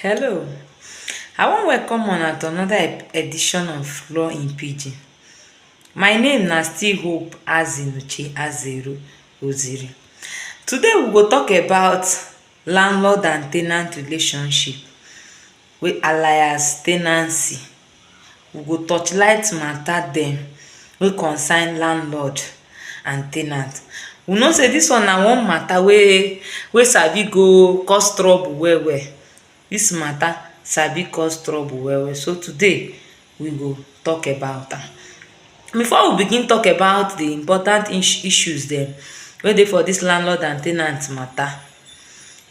Hello, I wan welcome una to another ep- edition of Law in Pidgin. My name na still Hope Azinuche Azeru Oziri. Today we go talk about landlord and tenant relationship wey alias tenancy. we go torchlight matter dem wey concern landlord and ten ant. We know sey dis one na one matter wey wey sabi go cause trouble well well. Dis matter sabi cause trouble well well. So today, we go talk about am. Before we begin talk about the important ish issues dem wey dey for dis landlord and ten ant matter,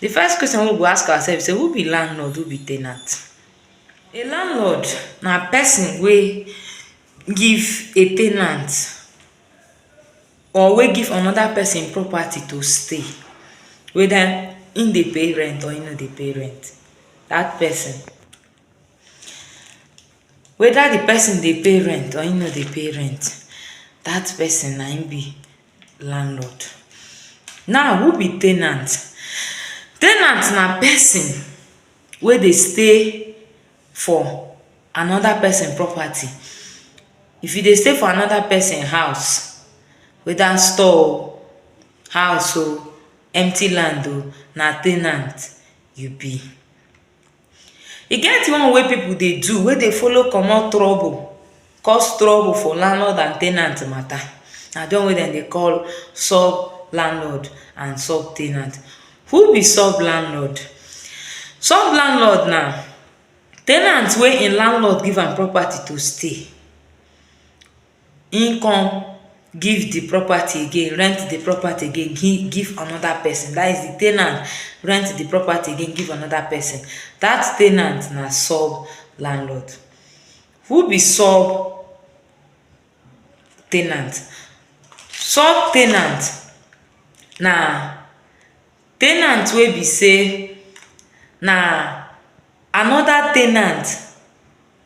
the first question wey we go ask ourselves be sey who be landlord, who be ten ant? A landlord na pesin wey give a ten ant or wey give anoda pesin property to stay weda im dey pay rent or im no dey pay rent. Dat pesin, weda di pesin dey pay rent or im no dey pay rent, dat pesin na im be landlord. Now, who be ten ant? Ten ant na pesin wey dey stay for another person property. If you dey stay for another person house, weda store o, house o, empty land o, na ten ant you be. E get one wey pipu dey do wey dey follow comot trouble cause trouble for landlord and ten ant matter, na di one wey dem dey call sub landlord and sub ten ant. Who be sub landlord? Sub landlord na ten ant wey im landlord give am property to stay, im come give di property again, rent di property again give give anoda pesin, dat is di ten ant rent di property again give anoda pesin, dat ten ant na sub landlord. Who be sub ten ant? Sub ten ant na ten ant wey be sey na another ten ant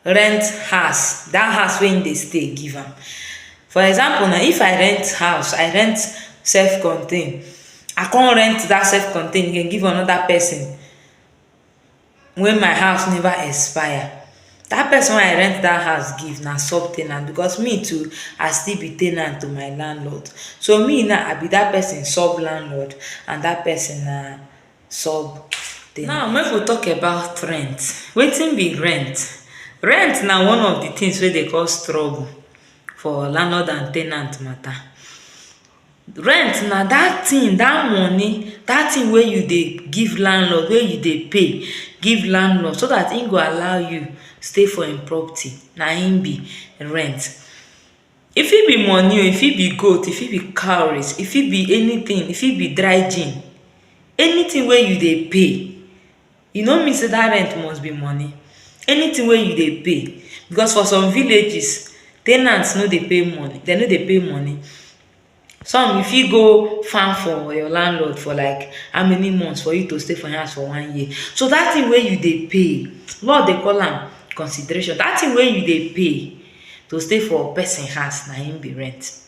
rent house, that house wey im dey stay give am. For example now, if I rent house, I rent self contain, I come rent that self contain again give another person, when my house never expire that person wey I rent that house give na sub ten ant because me too I still be ten ant to my landlord so me now I be that person sub landlord and that person na sub Now make we talk about rent, wetin be rent? Rent na one of the things wey dey cause trouble for landlord and ten ant matter Rent na dat thing, dat money, dat thing wey you dey give landlord, wey you dey pay give landlord so dat im go allow you stay for im property, na im be rent. E fit be money o, e fit be goat, e fit be cowries, e fit be anything, e fit be dry gin, anything wey you dey pay. e no mean sey dat rent must be money, anything wey you dey pay because for some villages ten ant no dey pay money dem no dey pay money some you fit go farm for your landlord for like how many months for you to stay for im house for one year so dat thing wey you dey pay law dey call am consideration dat thing wey you dey pay to stay for person house na im be rent.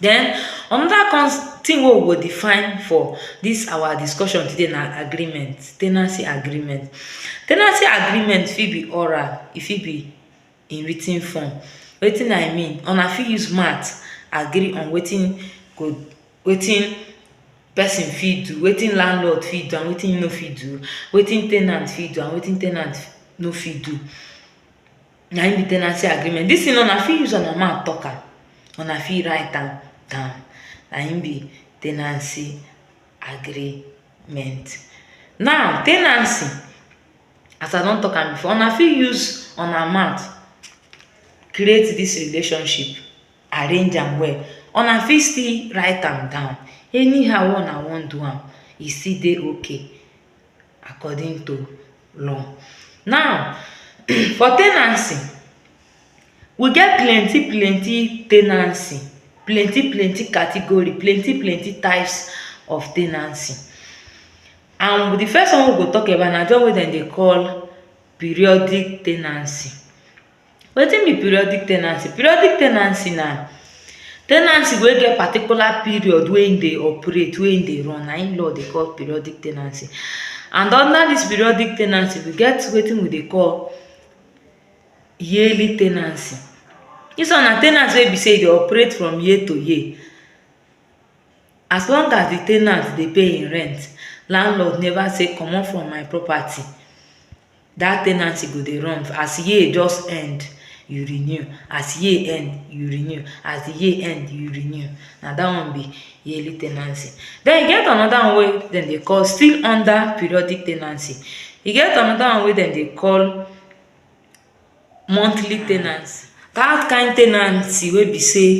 Den anoda kon tin wey we go define for dis awa discussion today na agreement, tenancy agreement. Tenancy agreement fit be oral, e fit be in writ ten form. Wetin I mean, una fit use mouth agree on wetin go, wetin person fit do, wetin landlord fit do and wetin e no fit do, wetin ten ant fit do and wetin ten ant no fit do. na im be tenancy agreement this thing na una fit use una mouth talk am una fit write am down na im be tenancy agreement now tenancy as i don talk am before una fit use una mouth create this relationship arrange am well una fit still write am down anyhow wey una wan do am e still dey okay according to law. Now for tenancy we get plenty plenty tenancy, plenty plenty category, plenty plenty types of tenancy and de first one wey we go talk about na de one wey dem dey call periodic tenancy. Wetin be periodic tenancy? Periodic tenancy na tenancy wey get particular period wey im dey operate, wey im dey run na im law dey call periodic tenancy. And under dis periodic tenancy, we get wetin we dey call yearly tenancy. Dis one na tenancy wey be sey e dey operate from year to year. As long as de ten ant dey pay im rent, landlord never say comot from my property. that tenancy go dey run as year just end you renew as year end you renew as the year end you renew na that one be yearly tenancy then e get another one wey dem dey call still under periodic tenancy e get another one wey dem dey call monthly tenancy that kind tenancy wey be say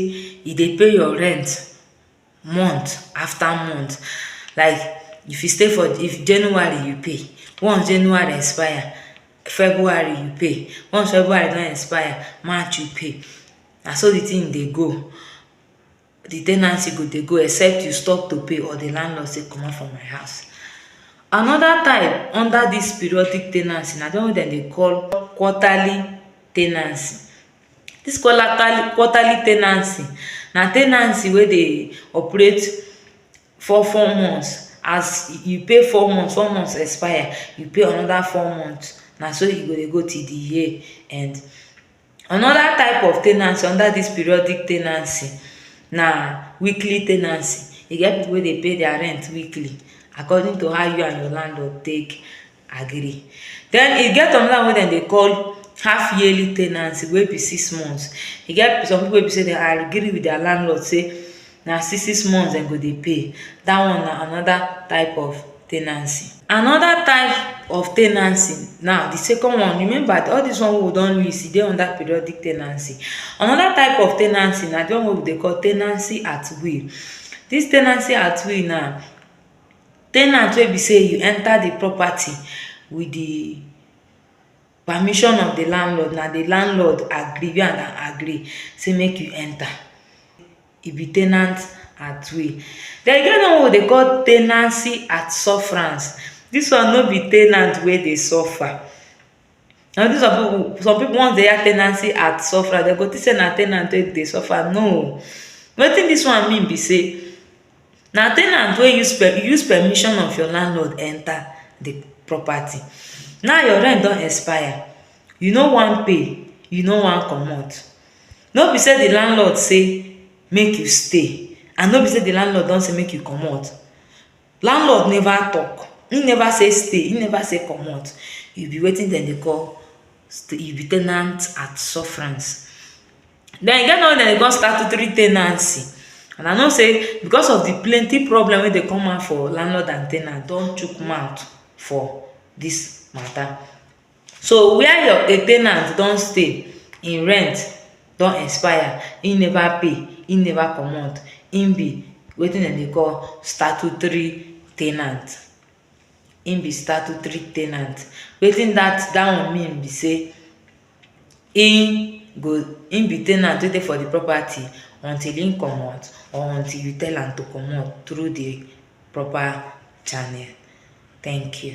e dey pay your rent month after month like if you stay for if January you pay once January expire February you pay once February don expire March you pay na so the thing dey go the ten ancy go dey go except you stop to pay or the landlord say comot for my house another type under this periodic ten ancy na the one wey dem dey call quarterly ten ancy Dis quarterly tenancy na tenancy wey dey operate four four months as you pay four months, four months expire you pay anoda four months na so e go dey go till di year end. Anoda type of tenancy under dis periodic tenancy na weekly tenancy, e get pipu wey dey pay dia rent weekly according to how you and your landlord take agree. Den e get anoda one wey dem dey call half yearly ten ancy wey be six months. E get some pipu wey be sey dem agree wit dia landlord sey na six six months dem go dey pay. Dat one na anoda type of ten ancy. Anoda type of ten ancy now, di second one, remember all dis one wey we don list, e dey under periodic ten ancy. Anoda type of ten ancy na di one wey we dey call ten ancy at will. Dis ten ancy at will now, ten ant wey be sey you enter di property with di permission of di landlord, na di landlord agree, you and am agree sey mek you enter, e be ten ant at will. Den, e get one wey we dey call tenancy at sufferance. Dis one no be ten ant wey dey suffer, na wetin some pipu, some pipu once den hear tenancy at sufferance, den go tink sey na ten ant wey dey suffer, no o. Wetin dis one mean be sey. Na ten ant wey use use permission of your landlord enter the property. Now your rent don expire, you no wan pay, you no wan comot. No be sey the landlord say make you stay and no be sey the landlord don say make you comot. Landlord never talk, im never say stay, im never say comot. E be wetin dem dey call, e be ten ant at sufferance. den e get another one wey dem dey call statutory ten ancy and I know sey because of di plenty problem wey dey come out for landlord and ten ant don chook mouth for dis matter. So where your a ten ant don stay, im rent don expire, im neva pay, im neva comot, im be wetin dem dey call statutory ten ant, im be statutory ten ant. Wetin dat dat one mean be sey im go im be ten ant wey dey for di property until im comot or until you tell am to comot through di proper channel thank you